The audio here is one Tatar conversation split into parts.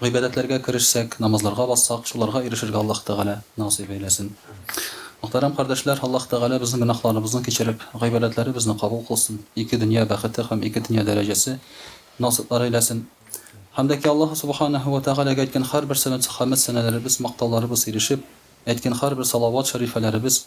Гыйбадәтләргә керешсәк, намазларга бассак, шуларга ирешергә Аллаһ Тәгалә насыйп әйләсен. Мөхтәрәм кардәшләр, Аллаһ Тәгалә безнең гөнаһларыбызны кичереп, гыйбадәтләребезне кабул кылсын, ике дөнья бәхете һәм ике дөнья дәрәҗәсе насыйплар әйләсен. Һәм дә ки Аллаһ Субханаһу вә Тәгаләгә әйткән һәрбер сәләт хәмед сәнәләребез, мактауларыбыз ирешеп, әйткән һәрбер салават шәрифәләребез,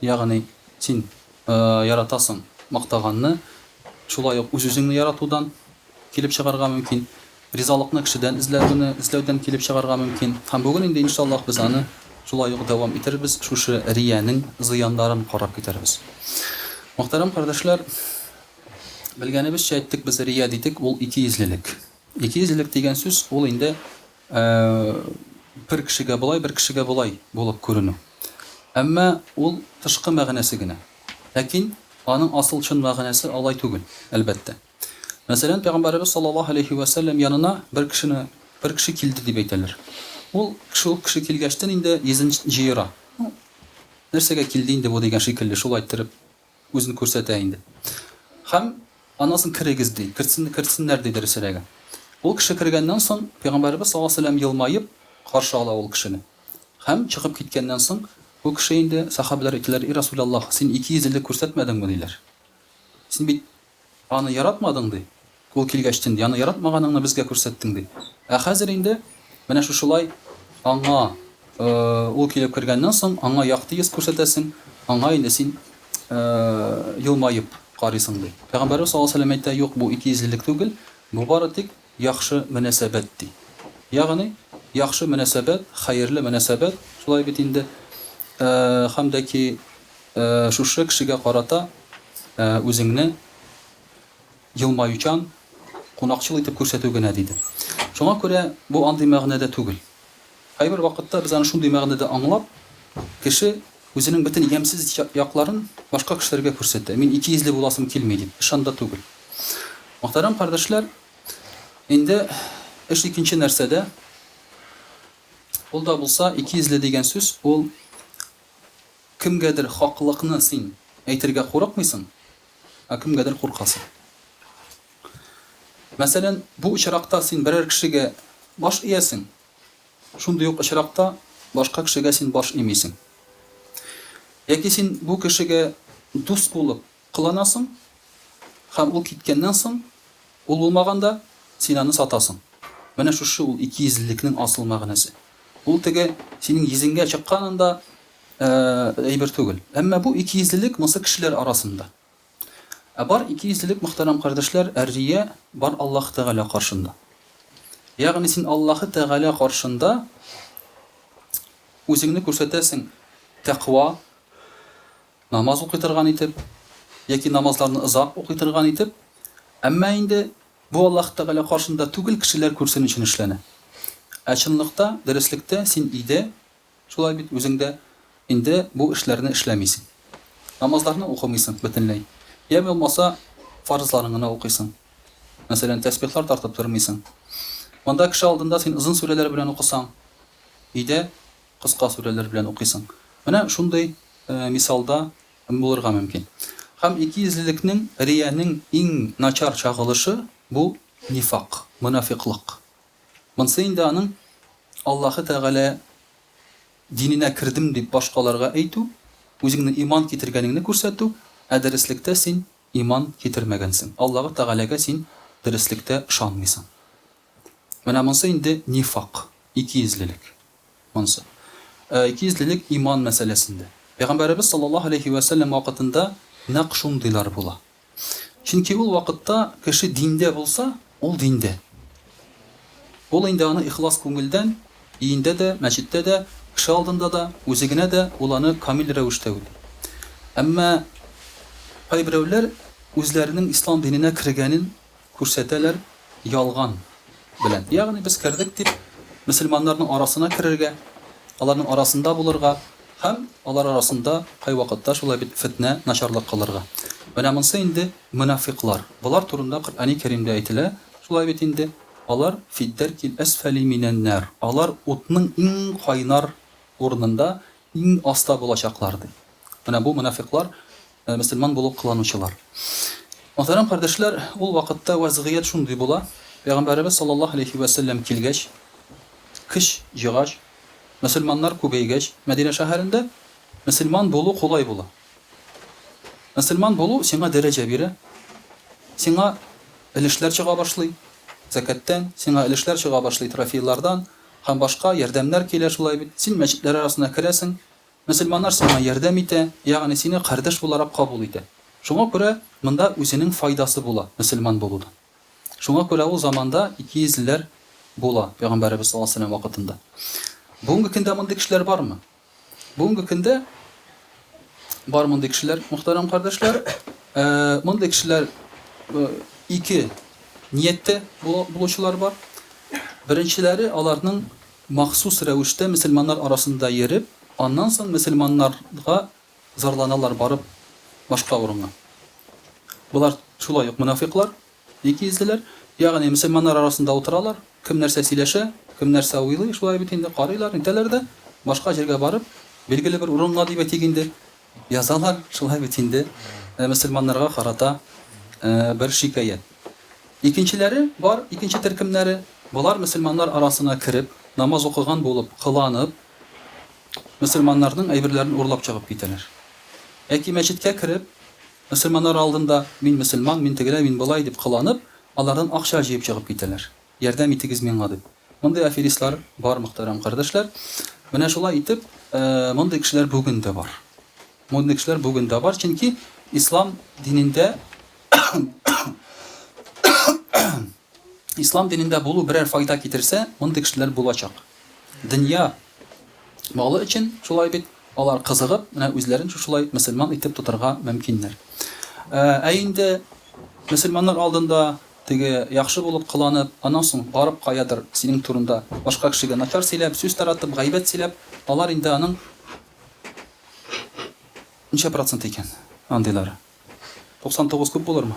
Ягъни, син яратасың мактаганны, шулай ук үз-үзеңне яратудан килеп чыгарга мөмкин, ризалыкны кешедән эзләүне эзләүдән килеп чыгарга мөмкин. Һәм бүген инде, иншаллаһ, без аны шулай ук дәвам итәрбез, шушы риянең зыяннарын карап китәрбез. Мөхтәрәм кардәшләр, белгәнебезчә әйттек, без рия дидек, ул икейөзлелек. Икейөзлелек дигән сүз, ул инде Ә бер кешегә болай, бер кешегә болай булып күренү. Әмма ул тышкы мәгънәсе генә. Ләкин аның асыл чын мәгънәсе алай түгел, әлбәттә. Мәсәлән, Пәйгамбәребез саллаллаһу галәйһи вә сәлләм янына бер кешене, бер кеше килде дип әйтәләр. Ул шул кеше килгәчтен инде йөзен җыера. Ну, нәрсәгә килде инде бу дигән шикелле, шулай иттереп. Үзен күрсәтә инде. Һәм, Анысын керегез, ди. Кертсен, кертсеннәр, ди, дөресрәге. Ул кеше кергәннән соң, пәйгамбәребез саллаллаһу галәйһи ва сәлләм елмаеп каршы ала ул кешене. Һәм, чыгып киткәннән соң, ул кеше инде, сәхабәләр әйтәләр, И Расуләллаһ, син икейөзлелек күрсәтмәдеңме, диләр. Син бит Аны яратмадың, ди. Ул килгәч, тинди, аны яратмаганыңны безгә күрсәттең, ди. Ә хәзер инде менә шушылай аңа, ул килеп кергәннән соң, аңа якты йөз күрсәтәсең, аңа инде син елмаеп карыйсың, ди. Пәйгамбәребез саллаллаһу галәйһи ва сәлләм әйтә, Юк, бу икейөзлелек түгел, бу бары тик Яхшы мөнәсәбәт ди. Ягъни, яхшы мөнәсәбәт, хәерле мөнәсәбәт, шулай бит инде. Һәм дә ки шушы кешегә карата үзеңне елмаючан, кунакчыл итеп күрсәтү генә, диде. Шуңа күрә бу андый мәгънәдә түгел. Кайбер вакытта без аны шундый мәгънәдә аңлап, кеше үзенең бөтен ямьсез якларын башка кешеләргә күрсәтә, мин икейөзле буласым килми дип, эш анда түгел. Мөхтәрәм кардәшләр, инде эш икенче нәрсәдә, ул да булса, икейөзле дигән сүз, ул кемгәдер хаклыкны син әйтергә курыкмыйсың, ә кемгәдер куркасың. Мәсәлән, бу очракта син берәр кешегә баш иәсең, Шундый ук очракта башка кешегә син баш имисең. Яки син бу кешегә дус булып кыланасың һәм ул киткәннән соң, ул булмаганда, син аны сатасың. Менә шушы ул икейөзлелекнең асыл мәгънәсе. Ул теге синең йөзеңгә чыкканында әйбер түгел. Әмма бу икейөзлелек монсы кешеләр арасында. Ә бар икейөзлелек мөхтәрәм кардәшләр әррия бар Аллаһ Тәгалә каршында. Ягъни син Аллаһы Тәгалә каршында үзеңне күрсәтәсең тәкъва, намаз укый торган итеп, яки намазларны озак укый торган итеп, әмма инде бу Аллаһ Тәгалә каршында түгел кешеләр күрсен өчен эшләнә. Ә чынлыкта, дөреслектә син иде Шулай бит, үзең дә инде бу эшләрне эшләмисең. Намазларны укымыйсың бөтенләй. Йә булмаса, фарызларын гына укыйсың. Мәсәлән, тәсбихлар тартып тормыйсың. Монда кеше алдында син озын сүрәләр белән укысаң, өйдә кыска сүрәләр белән укыйсың. Менә шундый мисалда булырга мөмкин. Һәм икейөзлелекнең, риянең иң начар чагылышы, бу нифак, монафикълык. Монсы инде аның Аллаһы Тәгалә диненә кердем дип башкаларга әйтү, үзеңнең иман китергәнеңне күрсәтү, ә дөреслектә син иман китермәгәнсең, Аллаһы Тәгаләгә син дөреслектә ышанмыйсың. Менә монсы инде нифак, икейөзлелек. Монсы. Ә икейөзлелек иман мәсьәләсендә. Пәйгамбәребез саллаллаһу галәйһи вә сәлләм вакытында нәкъ шундыйлар була. Чөнки ул вакытта кеше диндә булса, ул диндә. Ул инде аны ихлас күңелдән, өендә дә, мәчеттә дә, кеше алдында да, үзе генә дә ул аны камил рәвештә уйлый. Әмма кайберәүләр үзләренең ислам диненә кергәнен Күрсәтәләр ялган белән. Ягъни без кердек дип, мөселманнарның арасына керергә, аларның арасында булырга һәм алар арасында кайвакытта шулай бит фетнә, начарлык кылырга. Менә монсы инде мөнафыйклар. Болар турында Коръәни Кәримдә әйтелә, шулай бит инде, Алар, фиддәркил әсфәли минәннәр, алар утның иң кайнар урынында, иң аста булачаклар, ди. Менә бу мөнафыйклар Мөселман булу кыланучылар. Мөхтәрәм кардәшләр, ул вакытта вәзгыять шундый була, Пәйгамбәребез саллаллаһу галәйһи вә сәлләм килгәч, көч җыгач, мөселманнар күбәйгәч, Мәдинә шәһәрендә мөселман булу кулай була. Мөселман булу сиңа дәрәҗә бирә, сиңа өлешләр чыга башлый, зәкәттән, сиңа өлешләр чыга башлый трофейлардан һәм башка ярдәмнәр килә шулай бит, син мәчетләр арасына керәсең, Мөселманнар сиңа ярдәм итә, ягъни сине кардәш буларак кабул итә. Шуңа күрә монда үзенең файдасы була мөселман булуның. Шуңа күрә ул заманда икейөзлеләр була, пәйгамбәребез саллаллаһу галәйһи вә сәлләм вакытында. Бүгенге көндә мондый кешеләр бармы? Бүгенге көндә бар мондый кешеләр, мөхтәрәм кардәшләр. Ә, мондый кешеләр ике нияттә булучылар бар. Беренчеләре аларның Махсус рәвештә мөселманнар арасында йөреп, аннан соң мөселманнарга зарланалар барып башка урынга. Болар шулай ук мөнафыйклар, икейөзлеләр. Ягъни мөселманнар арасында утыралар, кем нәрсә сөйләшә, кем нәрсә уйлый, шулай бит инде, карыйлар, нитәләр дә, башка җиргә барып, билгеле бер урынга дибетик инде, Язалар шулай бит инде мөселманнарга карата бер шикаять. Икенчеләре бар, икенче төркемнәре, болар мөселманнар арасына кереп, намаз укыган булып кыланып, мөселманнарның әйберләрен урлап чыгып китәләр. Яки мәчеткә кереп, мөселманнар алдында мин мөселман, мин тегеләй, мин болай дип кыланып, алардан акча җыеп чыгып китәләр. Ярдәм итегез миңа дип. Мондый аферистлар бар, мөхтәрәм кардәшләр. Менә шулай итеп, мондый кешеләр бүген дә бар. Мондый кешеләр бүген дә бар, чөнки ислам динендә ислам динендә булу берәр файда китерсә, мондый кешеләр булачак. Дөнья малы өчен шулай бит, алар кызыгып, менә үзләрен шушылай мөселман итеп тотарга мөмкиннәр. Ә инде мөселманнар алдында Теге, яхшы булып кыланып, аннан соң барып каядыр синең турында башка кешегә начар сөйләп, сүз таратып, гайбәт сөйләп, алар инде аның Ничә процент икән андыйлары? 99 күп булырмы?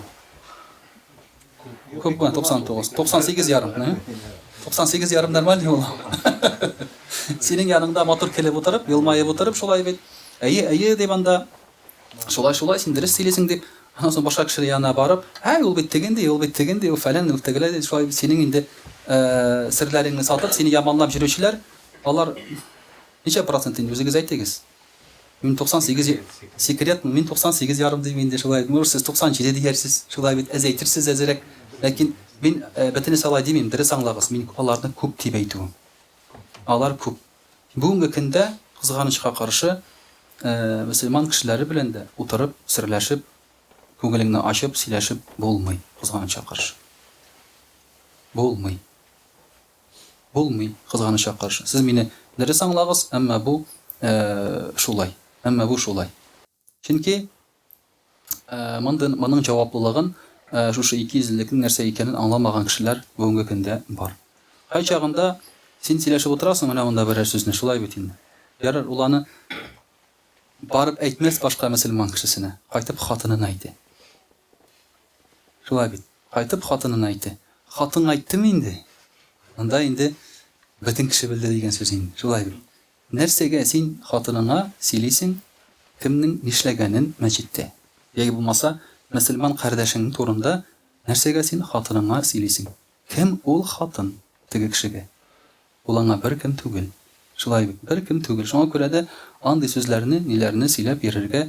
Күп була 99. 98 ярым, не? 98 ярым нормаль юл. Синең яныңда матур килеп утырып, елмаеп утырып шулай бит. Әйе, әйе дип анда Шулай, шулай, син дөрес сөйлисең, дип, аннан соң башка кешеләр янына барып, Һәй, ул бит теге ди, ул бит теге ди, ул фәлән, ул тегеләр ди, шулай бит синең инде серләреңне сатып, сине яманлап йөрүчеләр, алар ничә процент инде, үзегез әйтегез. Мин туксан сигез, секретмы, мин туксан сигез ярым дим инде, шулай, может, сез туксан җиде диярсез, шулай бит, әз әйтерсез әзрәк, ләкин мин бөтенесе алай димим, дөрес аңлагыз, мин аларны күп дип әйтүем. Алар күп. Бүгенге көндә, кызганычка каршы, мөселман кешеләре белән дә утырып, серләшеп, күңелеңне ачып сөйләшеп булмый, кызганычка каршы. Булмый. Булмый, кызганычка каршы. Сез мине дөрес аңлагыз, әмма бу шулай. Әмма бу шулай. Чөнки моның җаваплылыгын шушы икейөзлелекнең нәрсә икәнен аңламаган кешеләр бүгенге көндә бар. Кайчагында син сөйләшеп утырасың менә монда берәр сүзне, шулай бит инде. Ярар, ул аны барып әйтмәс башка мөселман кешесенә, кайтып хатынына әйтә. Шулай бит, кайтып хатынына әйтә. Хатынга әйттеме инде, анда инде бөтен кеше белде дигән сүз инде, шулай бит. Нәрсәгә син хатыныңа сөйлисең кемнең нишләгәнен мәчеттә? Яки булмаса, мөселман кардәшең турында нәрсәгә син хатыныңа сөйлисең? Кем ул хатын теге кешегә? Ул аңа беркем түгел. Шулай бит, беркем түгел. Шуңа күрә дә андый сүзләрне, ниләрне сөйләп йөрергә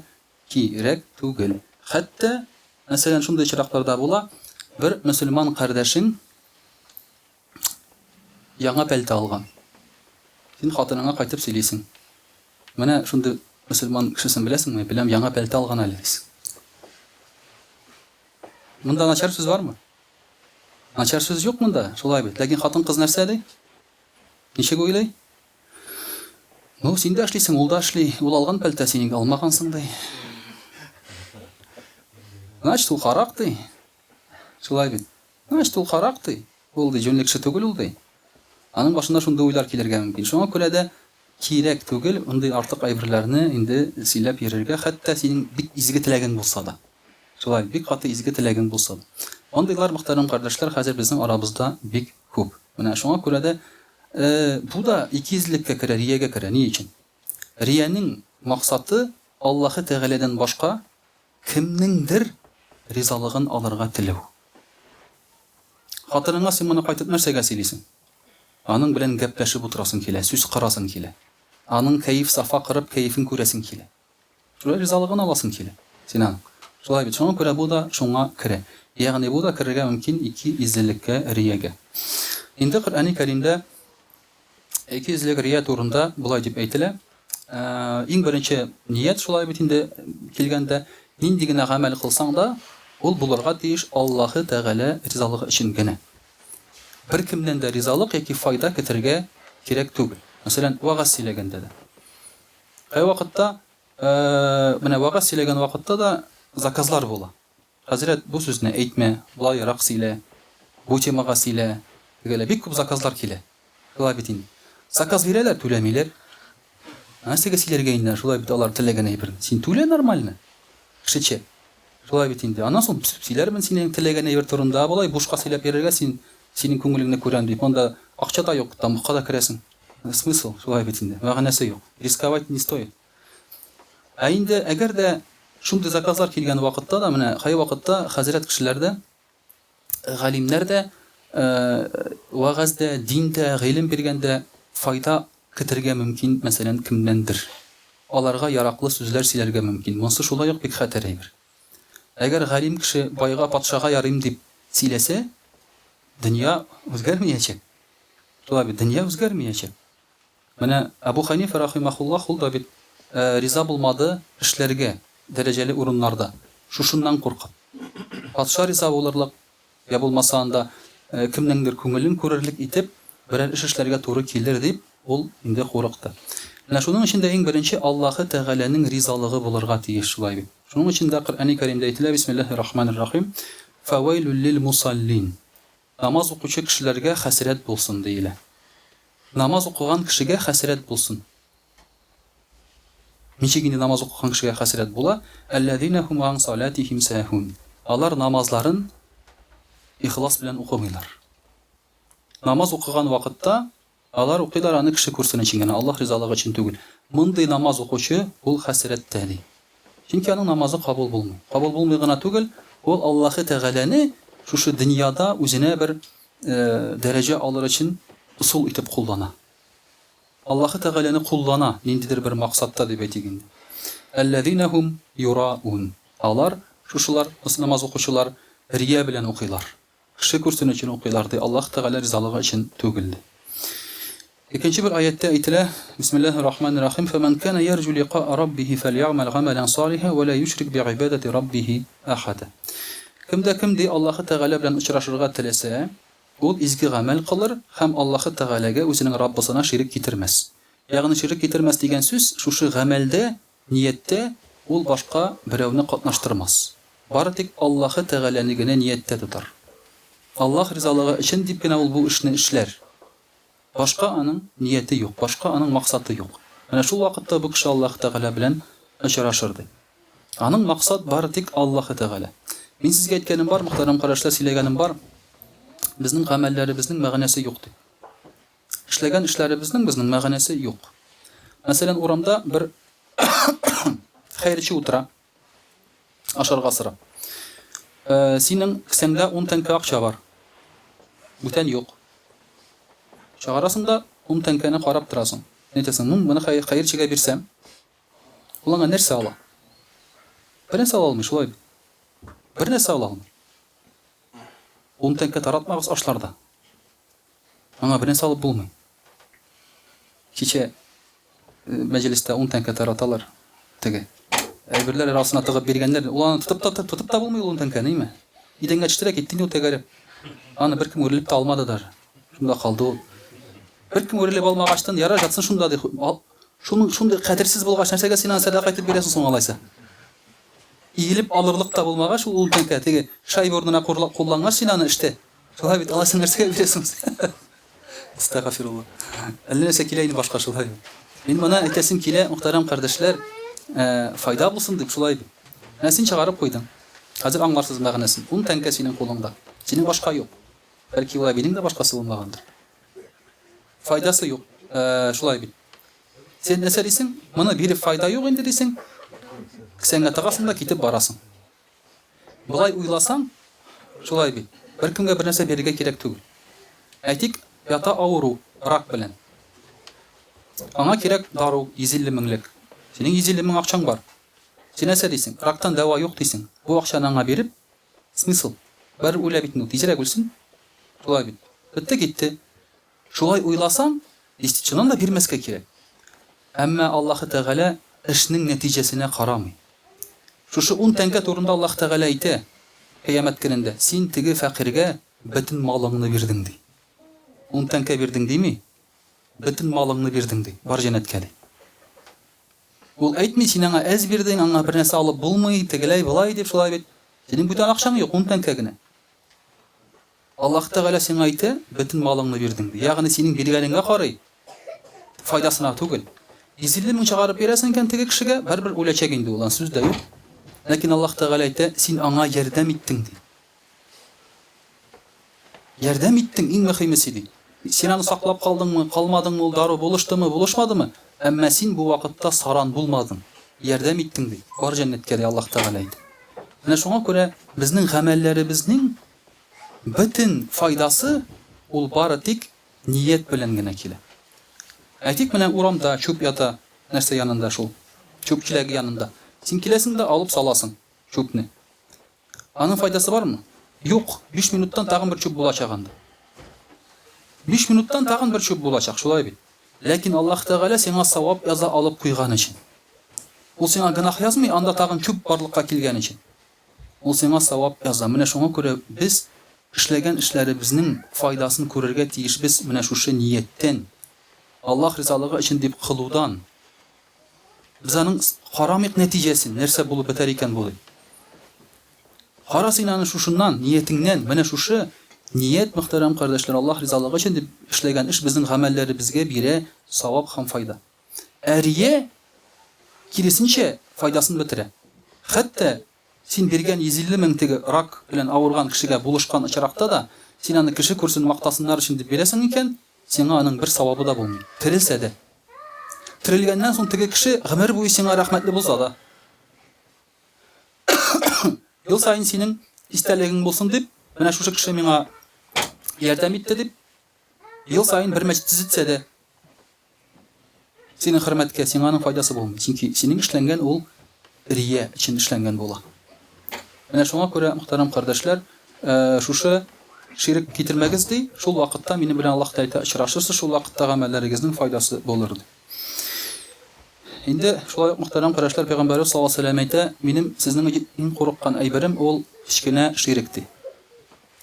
кирәк түгел. Хәтта, мәсәлән, шундый очраклар да була, бер мөселман кардәшең, Яңа пәлтә алган. Син хатыныңа кайтып сөйлисең. Менә шундый мөселман кешесен беләсеңме? Беләм, яңа пәлтә алган әле, дисең. Монда начар сүз бармы? Начар сүз юк монда, шулай бит. Ләкин хатын-кыз нәрсә ди? Ничек уйлый? Ну, син дә эшлисең, ул да эшли. Ул алган пәлтә, син инде алмагансың, ди. Значит, ул харак, ди. Шулай бит. Значит, ул карак, ди. Ул, ди, җүнле кеше түгел ул, ди. Аның башына шундый уйлар килергә мөмкин. Шуңа күрә дә кирәк түгел мондый артык әйберләрне инде сөйләп йөрергә, хәтта синең бик изге теләгең булса да. Шулай, бик каты изге теләгең булса да. Мондыйлар, мөхтәрәм кардәшләр, хәзер безнең арабызда бик күп. Менә шуңа күрә дә бу да икейөзлеккә керә, риягә керә. Ни өчен? Риянең максаты Аллаһы Тәгаләдән башка Кемнеңдер ризалыгын алырга теләү. Хатыныңа син моны кайтып нәрсәгә сөйлисең? Аның белән гәпләшеп утырасың килә, сүз кырасың килә. Аның кәеф-сафа кырып, кәефен күрәсең килә. Шулай ризалыгын аласың килә син аның. Шулай бит, шуңа күрә бу да шуңа керә. Ягъни бу да керергә мөмкин ике иззелеккә, риягә. Инде Коръәни Кәримдә Икейөзлек рия турында болай дип әйтелә, Иң беренче ният шулай бит инде килгәндә, нинди генә гамәл кылсаң да, ул булырга тиеш Аллаһы Тәгалә ризалыгы өчен генә. Беркемнән дә ризалык яки файда көтәргә кирәк түгел. Мәсәлән, вәгазь сөйләгәндә дә. Кайвакытта, менә вәгазь сөйләгән вакытта да заказлар була. Хәзрәт, бу сүзне әйтмә, болаерак сөйлә, бу темага сөйлә, тегелә бик күп заказлар килә. Шулай бит инде. Заказ бирәләр, түләмиләр. Нәрсәгә сөйләргә инде, шулай бит алар теләгән әйберне. Син түлә нормально, кешечә. Шулай бит инде. Аннан соң сөйләрмен синең теләгән әйбер турында, болай бушка сөйләп йөрергә син, синең күңелеңне күрәм дип, анда акча да юк, тамакка да керәсең. Смысл, шулай бит инде, мәгънәсе юк. Рисковать не стоит. Ә инде әгәр дә шундый заказлар килгән вакытта да, менә кайвакытта хәзрәт кешеләр дә, галимнәр дә вәгазьдә, диндә, гыйлем биргәндә файда кетергә мөмкин, мәсәлән, кемнәндер. Аларга яраклы сүзләр сөйләргә мөмкин. Монсы шулай ук бик хәтәр әйбер. Әгәр галим кеше байга, патшага ярыйм дип сөйләсә, дөнья үзгәрмиячәк. Шулай бит, дөнья үзгәрмиячәк. Менә Әбу Хәнифә рахимәхуллаһ ул да бит риза булмады эшләргә дәрәҗәле урыннарда, шушыннан куркып. Патша риза булырлык, йә булмаса анда кемнеңдер күңелен күрерлек итеп берәр эш эшләргә туры килер дип ул инде курыкты. Менә шуның өчен дә иң беренче Аллаһы Тәгаләнең ризалыгы булырга тиеш, шулай бит? Шуның өчен дә Коръәни Кәримдә әйтелә, Бисмиллаһи рахманир рахим, Фәвәйлүл лил мусаллин, Намаз укучы кешеләргә хәсрәт булсын, диелә. Намаз укыган кешегә хәсрәт булсын. Ничек инде намаз укыган кешегә хәсрәт була? Әлләзинә һум ан салатихим сәһун. Алар намазларын ихлас белән укымыйлар. Намаз укыган вакытта Алар укыйлар аны кеше күрсен өчен генә, Аллаһ ризалыгы өчен түгел. Мондый намаз укучы, ул хәсрәттә, ди. Чөнки аның намазы кабул булмый. Кабул булмый гына түгел, ул Аллаһы Тәгаләне шушы дөньяда үзенә бер дәрәҗә алыр өчен ысул итеп куллана. Аллаһы Тәгаләне куллана, ниндидер бер максатта дип әйтик инде. Әлләзинә һум юраун. Алар, шушылар, намаз укучылар, рия белән укыйлар. Кеше күрсен өчен укыйлар, ди, Аллаһ Тәгалә ризалыгы өчен түгел, ди. Икенче бер аятьтә әйтелә, Бисмиллаһи рахмани рахим, Фәмән кана ярҗу ликаа Раббихи фәльягъмәл гамәлән салиха вә лә юшрик бигъибадәти Раббихи әхәдә. Кем дә кем, ди, Аллаһы Тәгалә белән очрашырга теләсә, ул изге гамәл кылыр һәм Аллаһы Тәгаләгә үзенең Раббысына ширек китермәс. Ягъни ширек китермәс дигән сүз, шушы гамәлдә Нияттә ул башка берәүне катнаштырмас, бары тик Аллаһы Тәгаләне генә нияттә тотар. Аллаһ ризалыгы өчен дип кенә ул бу эшне эшләр. Башка аның нияте юк, башка аның максаты юк. Менә шул вакытта бу кеше Аллаһы Тәгалә белән очрашыр, ди. Аның максат бары тик Аллаһы Тәгалә. Мин сезгә әйткәнем бар, мөхтәрәм кардәшләр, сөйләгәнем бар, безнең гамәлләребезнең мәгънәсе юк, ди. Эшләгән эшләребезнең безнең мәгънәсе юк. Мәсәлән, урамда бер хәерче утыра, ашарга сорап. Э, синең кесәңдә 10 тәңкә акча бар. Бүтән юк. Чыгарасың да 10 тәңкәне карап торасың. Әйтәсең, ну, моны хәерчегә бирсәм, ул аңа нәрсә ала? Бер нәрсә ала алмый, шулай бит. Бер нәрсә ала алмый. 10 тәңкә таратмагыз ашларда. Аңа берни салып булмый. Кичә мәҗлестә ун тәңкә тараталар. Теге әйберләр арасына тыгып биргәннәр. Ул аны тотып та тотып та булмый ул ун тәңкәне, име? Идәнгә төште дә китте инде ул тәгәрәп. Аны беркем үрелеп тә алмады даже. Шунда калды ул. Беркем үрелеп алмагачтын, ярар жатсын шунда ди. Шуның шундый кадерсез булгач, нәрсәгә син аны сәдака итеп бирәсең соң алайса? Иелеп алырлык та булмагач, ул ун тәңкә теге шайба урынына куллангач, син аны эштә Шулай бит, алайса нәрсәгә бирәсең син? Астагфирулла. Әллә нәрсә килә инде башка шулай. Мин моны әйтәсем килә, мөхтәрәм кардәшләр, э, файда булсын дип шулай бит. Менә син чыгарып куйдың. Хәзер аңларсыз мәгънәсен. Ун тәңкә синең кулыңда. Синең башка юк. Бәлки ул әбинең дә башкасы булмагандыр. Файдасы юк. Э, шулай бит. Син нәрсә дисең? Моны биреп файда юк инде дисең. Кесәңә тыгасың да китеп барасың. Болай уйласаң, шулай бит, беркемгә бернәрсә бирергә кирәк түгел. Әйтик, ята авыру, рак белән. Аңа кирәк дару, йөз илле меңлек. Синең йөз илле мең акчаң бар. Син нәрсә дисең, рактан дәва юк дисең. Бу акчаны аңа биреп, смысл? Барыбер үлә бит инде ул, тизрәк үлсен. Шулай бит. Бетте-китте. Шулай уйласаң, десятчинаны да бирмәскә кирәк. Әмма Аллаһы Тәгалә эшнең нәтиҗәсенә карамый. Шушы ун тәңкә турында Аллаһы Тәгалә әйтә, Кыямәт көнендә, Син теге фәкыйрьгә бөтен малыңны бирдең, ди. Ун тәңкә бирдең дими, бөтен малыңны бирдең, ди. Бар җәннәткә, ди. Ул әйтми, Син аңа әз бирдең, аңа бернәрсә алып булмый, тегеләй-болай дип, шулай бит. Синең бүтән акчаң юк, ун тәңкә генә. Аллаһ Тәгалә сиңа әйтә, Бөтен малыңны бирдем, ди. Ягъни синең биргәнеңә карый, файдасына түгел. Изелле мең чыгарып бирәсең икән теге кешегә, барыбер үләчәк инде ул, ан сүз дә юк. Ләкин Аллаһ Тәгалә әйтә, Син аңа ярдәм иттең, ди. Ярдәм иттең, иң мөхимесе, ди. Син аны саклап калдыңмы, калмадыңмы, ул дару булыштымы, булышмадымы, әмма син бу вакытта саран булмадың, ярдәм иттең, ди. Бар җәннәткә, ди Аллаһ Тәгалә әйтә. Менә шуңа күрә безнең гамәлләребезнең Бөтен файдасы ул бары тик ният белән генә килә. Әйтик, менә урамда чүп ята, нәрсә янында шул, чүп чиләге янында. Син киләсең дә алып саласың чүпне. Аның файдасы бармы? Юк, биш минуттан тагын бер чүп булачак анда. Биш минуттан тагын бер чүп булачак, шулай бит? Ләкин Аллаһ Тәгалә сиңа савап яза алып куйган өчен. Ул сиңа гөнаһ язмый, анда тагын чүп барлыкка килгән өчен. Ул сиңа савап яза. Менә шуңа күрә без эшләгән эшләребезнең файдасын күрергә тиешбез менә шушы нияттән, Аллаһ ризалыгы өчен дип кылудан. Без аның карамыйк нәтиҗәсен, нәрсә булып бетәр икән бу дип. Кара син аны шушыннан, ниятеңнән, менә шушы ният, мөхтәрәм кардәшләр, Аллаһ ризалыгы өчен дип эшләгән эш безнең гамәлләребезгә бирә савап һәм файда. Әрие, киресенчә, файдасын бетерә. Хәтта син биргән 150 мең теге рак белән авырган кешегә булышкан очракта да, син аны кеше күрсен, мактасыннар өчен дип бирәсең икән, сиңа аның бер савабы да булмый, терелсә дә. Терелгәннән соң теге кеше гомер буе сиңа рәхмәтле булса да. Ел саен синең истәлегең булсын дип, менә шушы кеше миңа ярдәм итте дип, ел саен бер мәчет төзетсә дә. Синең хөрмәткә, сиңа аның файдасы булмый, чөнки синең эшләнгән ул рия өчен эшләнгән була. Менә шуңа күрә, мөхтәрәм кардәшләр, шушы ширек китермәгез, ди, шул вакытта минем белән Аллаһ Тәэта очрашырсыз, шул вакытта гамәлләрегезнең файдасы булыр, ди. Инде шулай ук, мөхтәрәм кардәшләр, Пәйгамбәребез саллаллаһу алейһи ва сәлләм әйтә, Минем сезнең өчен иң курыккан әйберем ул кечкенә ширек, ди.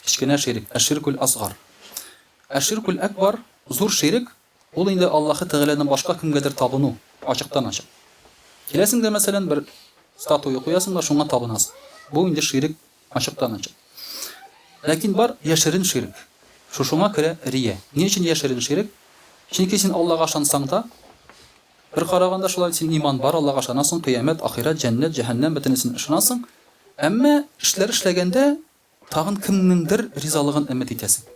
Кечкенә ширек, әширкүл асгар. Әширкүл әкбар, зур ширек, Ул инде Аллаһы Тәгаләдән башка кемгәдер табыну, ачыктан-ачык. Киләсең дә, мәсәлән, бер статуя куясың да шуңа табынасың. Бу инде ширек ачыктан-ачык. Ләкин бар яшерен ширек. Шушыңа керә рия. Ни өчен яшерен ширек? Чөнки син Аллага ышансаң да, бер караганда шулай, син иман бар, Аллага ышанасың, кыямәт, ахирәт, җәннәт, җәһәннәм, бөтенесен ышанасың, әмма эшләр эшләгәндә, Тагын кемнеңдер ризалыгын өмет итәсең.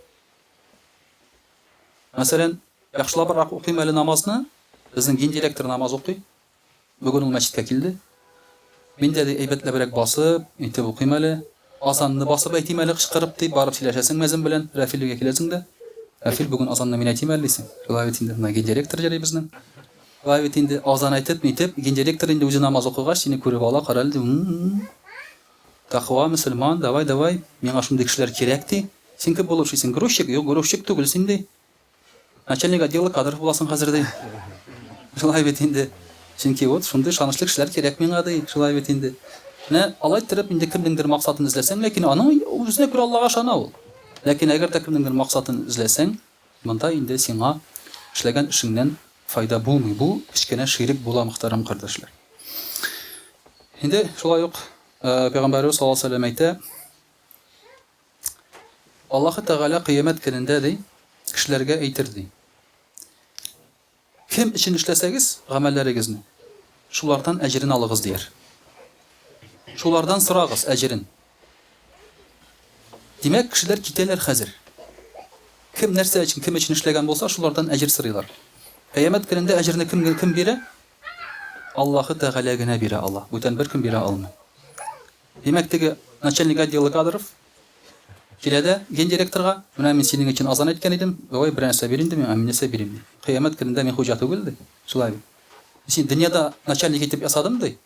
Мәсәлән, яхшылабрак укыйм әле намазны, безнең дин директоры намаз укый. Бүген ул мәчеткә килде. Мин дә, ди, әйбәтләбрәк басып, итеп укыйм әле. Азанны басып әйтим әле кычкырып, ди, барып сөйләшәсең мәзин белән, Рәфил өйгә киләсең дә, Рәфил, бүген азанны мин әйтим әле, дисең. Шулай бит инде, менә гендиректор йөри безнең. Шулай бит инде, азан әйтеп, нитеп, гендиректор инде үзе намаз укыгач, сине күреп ала, карале, ди, м-м-м. Тәкъва мөселман, давай, давай, миңа шундый кешеләр кирәк, ди. Син кем булып эшлисең, грузчик? Юк, грузчик түгел син, ди. Начальник отдела кадров буласың хәзер, ди. Шулай бит инде. Чөнки вот шундый ышанычлы кешеләр кирәк миңа, ди. Шулай бит инде. Менә алай иттереп инде кемнеңдер максатын эзләсәң, ләкин аның үзенә күрә Аллага ышана ул. Ләкин әгәр дә кемнеңдер максатын эзләсәң, Монда инде сиңа эшләгән эшеңнән файда булмый, бу кечкенә ширек була, мөхтәрәм кардәшләр. Инде шулай ук Пәйгамбәребез саллаллаһу алейһи вә сәлләм әйтә, Аллаһы Тәгалә кыямәт көнендә, ди, кешеләргә әйтер, ди. Кем өчен эшләсәгез гамәлләрегезне, шулардан әҗерен алыгыз, дияр. Шулардан сорагыз әҗерен. Димәк, кешеләр китәләр хәзер. Кем нәрсә өчен, кем өчен эшләгән булса, шулардан әҗер сорыйлар. Кыямәт көнендә әҗерне кем, кем бирә? Аллаһы Тәгалә генә бирә ала. Бүтән беркем бирә алмый. Димәк, теге начальник отдела кадров Килә дә, гендиректорга, Менә мин синең өчен азан әйткән идем, давай берәр нәрсә бир инде миңа, мин нәрсә бирим, ди. Кыямәт көнендә мин хуҗа түгел, ди. Шулай бит. Мин сине дөньяда начальник итеп ясадым, ди.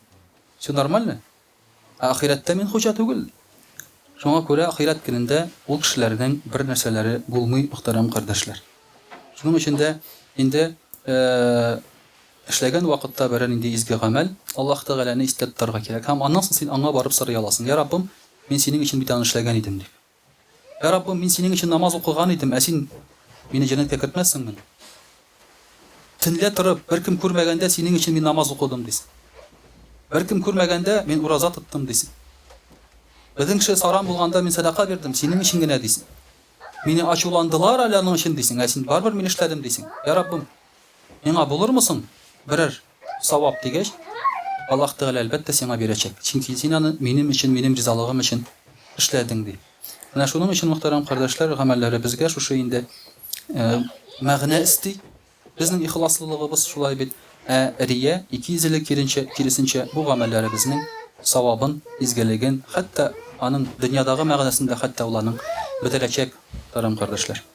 Всё нормально. Ә ахирәттә мин хуҗа түгел, ди. Шуңа күрә ахирәт көнендә ул кешеләрнең бер нәрсәләре булмый, мөхтәрәм кардәшләр. Шуның өчен дә инде, э-э-э. Эшләгән вакытта берәр нинди изге гамәл, Аллаһ Тәгаләне истә тотарга кирәк һәм аннан соң син Аңа барып сорый аласың, Йә Раббым, мин Синең өчен бит аны эшләгән идем, дип. Йә Раббым, мин Синең өчен намаз укыган идем, ә Син мине җәннәткә кертмәссеңмени? Төнлә торып, беркем күрмәгәндә Синең өчен мин намаз укыдым, дисең. Беркем күрмәгәндә мин ураза тоттым, дисең. Безнең кеше саран булганда мин сәдака бирдем, Синең өчен генә, дисең. Мине ачуландылар әле аның өчен, дисең, ә Син, барыбер мин эшләдем, дисең. Йә Раббым! Миңа булырмы соң берәр савап? дигәч, Аллаһ Тәгалә, әлбәттә, сиңа бирәчәк, чөнки син аны минем өчен, минем ризалыгым өчен эшләдең, ди. Менә шуның өчен, мөхтәрәм кардәшләр, гамәлләребезгә шушы инде мәгънә өсти. Безнең ихласлылыгыбыз шулай бит. Ә рия, икейөзлелек киренчә, киресенчә, бу гамәлләребезнең савабын, изгелеген, хәтта аның дөньядагы мәгънәсен дә хәтта ул аның бетерәчәк, мөхтәрәм кардәшләр.